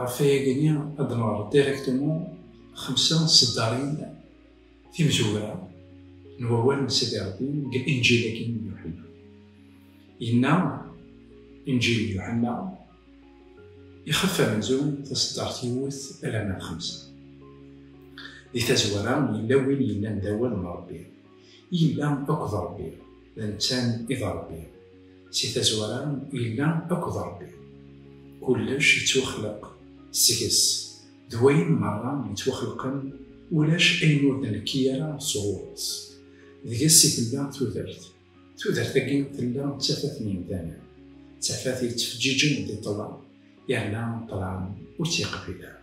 Ɣef wayagi, ad d-nɣer directement xemsa n tseddarin timzugra n wawal n Sidi Rebbi deg Inǧil-agi n Yuḥenna. Yenna Inǧil n Yuḥenna, Ixef amenzu taseddart yiwet alamma d xemsa. Di tazwara, yella win yellan d awal n Rebbi, yella akked Rebbi, d netta i d Rebbi. Si tazwara yella akked Ṛebbi, kullec yettwaxleq seg-s, d wayen meṛṛa yettwaxelqen ulac ayen ur d-nekki ara sɣur-s. Deg-s i tella tudert, tudert-agi tella d tafat n yemdanen, d tafat yettfeǧǧiǧen di ṭṭlam, yerna ṭṭlam ur tt-yeqbil ara.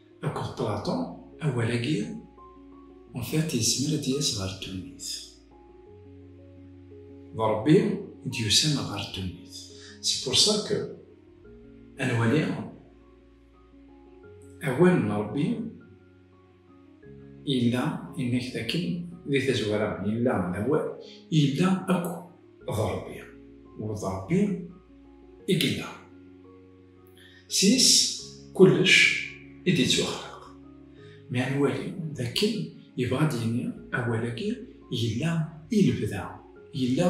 Akked Plaṭu, awal-agi en fait yezmer ad d-yas ɣer ddunit. D Ṛebbi i d-yusan ɣer ddunit. C'est pour ça que ad nwali awal n Ṛebbi yella inek dakken di tazwara yella d awal yella akk d Ṛebbi u d Ṛebbi i yella. Sys kullec i d-yettwaxlaq. Mi ara nwali d akken yebɣa ad d-yini awal-agi yella i lebda, yella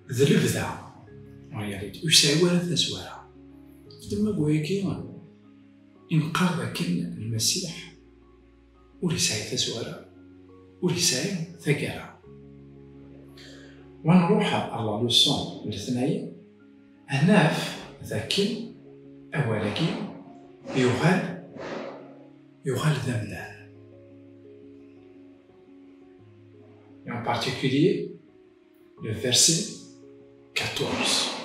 d lebda, en réalité, ur yesɛi ara tazwara. Deg ddemma n wayagi i neqqar d akken Lmasiḥ, ur yesɛi taswara ur yesɛi tagara wa nruḥ ar la leçon n letnayen ad naf dakken awal-agi yuɣal yuɣal d amdan et en particulier le verset 14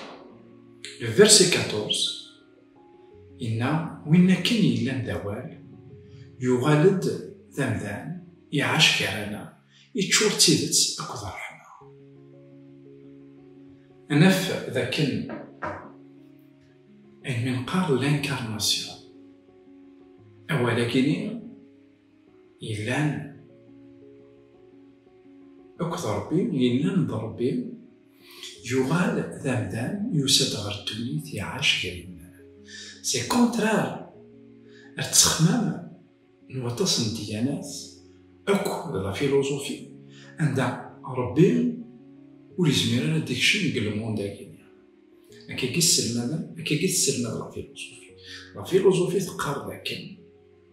le verset 14 Inna win akken yellan d awal, yuɣal-d d amdan, iɛac gar-aneɣ, iččur d tidet akked ṛṛeḥma. Ad naf d akken ayen mi neqqar l'incarnation, awal-agi-nni yellan akked Ṛebbi, yellan d Ṛebbi, Yuɣal d amdan, yusa-d ɣer ddunit, iɛac gar yimal. C'est le contraire! Ar ttexmam n waṭas n ddyanat, akk d la philosophie, anda Rebbi ur yezmir ara ad d-ikcem deg le monde-agi. Akkagi sselmaden, akkagi tesselmad la philosophie. La philosophie teqqar d akken.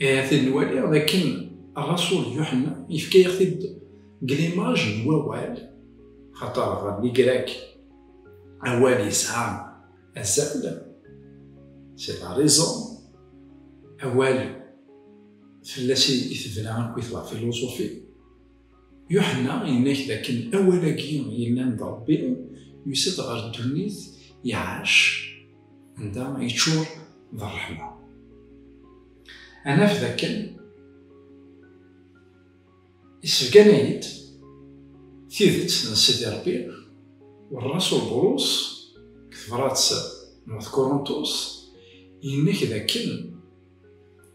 Ahat nwaliɣ dakken Rasul Yuḥenna yefka-yaɣ-t-id deg limaj n wawal, xaṭer ɣer Ligrak awal yesɛa azal, c'est la raison, awal fell-as i tebna akk-it la philosophie. Yuḥenna yenna-k dakken awal-agi yellan d Ṛebbi yusa-d ɣer ddunit, iɛac, anda yeččur d ṛṛeḥma. Ad naf dakken isebgan-ay-d tidet n Sidi Ṛebbi u ṛṛasul Bulus deg tebṛat n At Kuruntus, yenna-k dakken,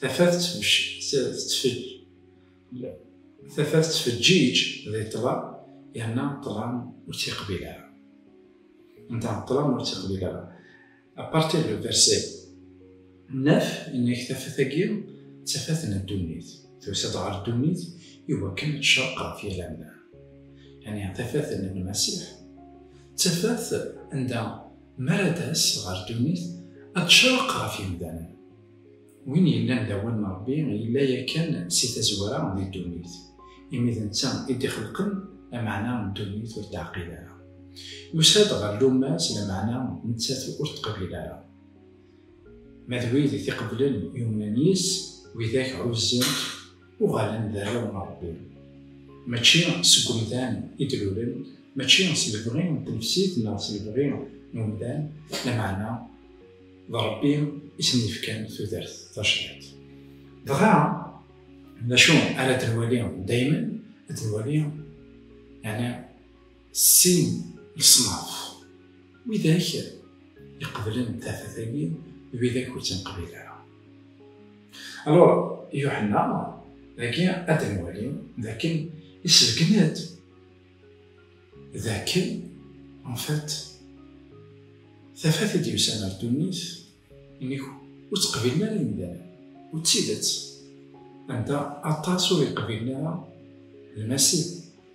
Tafat tettfeǧǧiǧ di ṭṭlam yerna ṭṭlam ur tt-yeqbil ara. Anda ṭṭlam ur tt-yeqbil ara. A partir du verset 9, inna-k tafat-agi d tafat n ddunit. Tusa-d ɣer ddunit i wakken ad tecreq ɣef yal amdan. Yani tafat n Lmasiḥ d tafat anda mi ara d-tas ɣer ddunit ad tecreq ɣef yimdanen. Win yellan d awal n Ṛebbi yella yakan si tazwara di ddunit, imi d netta i d-ixelqen lameɛna ddunit ur teɛqil ara. Yusa-d ɣer lumma-s lameɛna nettat ur teqbil ara. Ma d wid i t-iqeblen yumnen yis, widak ɛuzzent, uɣalen d arraw n Ṛebbi. Mačči seg umdan i d-lulen, mačči s lebɣi n tnefsit neɣ s lebɣi n umdan, lameɛna. d Ṛebbi i sen-yefkan tudert tajdiṭ. Dɣa, d acu ara d-nwali daymen? Ad d-nwali yani sin leṣnaf, widak iqeblen tafat-agi d widak ur tt-nqbil ara. Alors, Yuḥenna dagi ad d-nwali dakken isebgen-d D akken, en fait, tafat i d-yusan ar ddunit, inik ur tt-qbilen ara imdanen, u d tidet, anda aṭas ur iqbilen ara lmasib,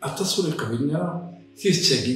aṭas ur iqbilen ara tidet-agi.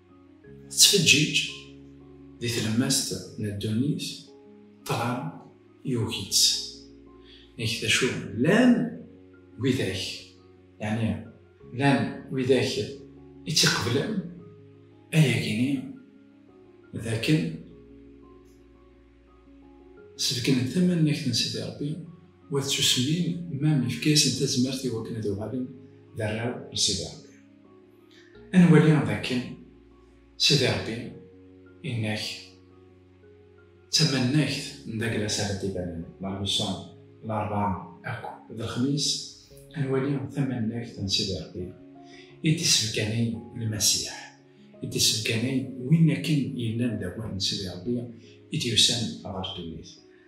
Tettfeǧǧiǧ di tlemmast n ddunit, ṭṭlam yugi-tt. Nek d acu, llan widak, yeɛni llan widak i tt-iqeblen, ayagi-nni d akken sebknen tamannakt n Sidi Ṛebbi, wat tsusmin, mam yefka-yasen tazmert i wakken ad uɣalen d arraw n Sidi Ṛebbi. Ad nwali dakken Sidi Ṛebbi yenna-ak d tamannagt n Daglas ara d-ibanen la Luson, Laṛebɛa akk d Lexmis, ad nwali tamannagt n Sidi Ṛebbi i d-isebganay Lmasiḥ, i d-isebganay win akken yellan d awal n Sidi Ṛebbi i d-yusan ɣer ddunit.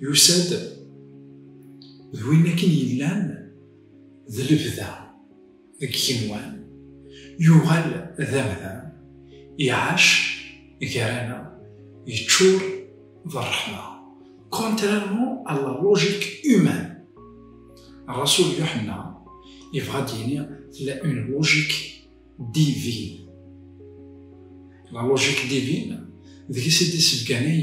Yusa-d d win akken yellan d lebda deg yigenwan, yuɣal d amdan, iɛac gar-aneɣ, yeččur d rreḥma, contrairement à la logique humaine. Rasul Yuḥenna yebɣa ad d-yini tella une logique divine. La logique divine, deg-s i d-yessebganay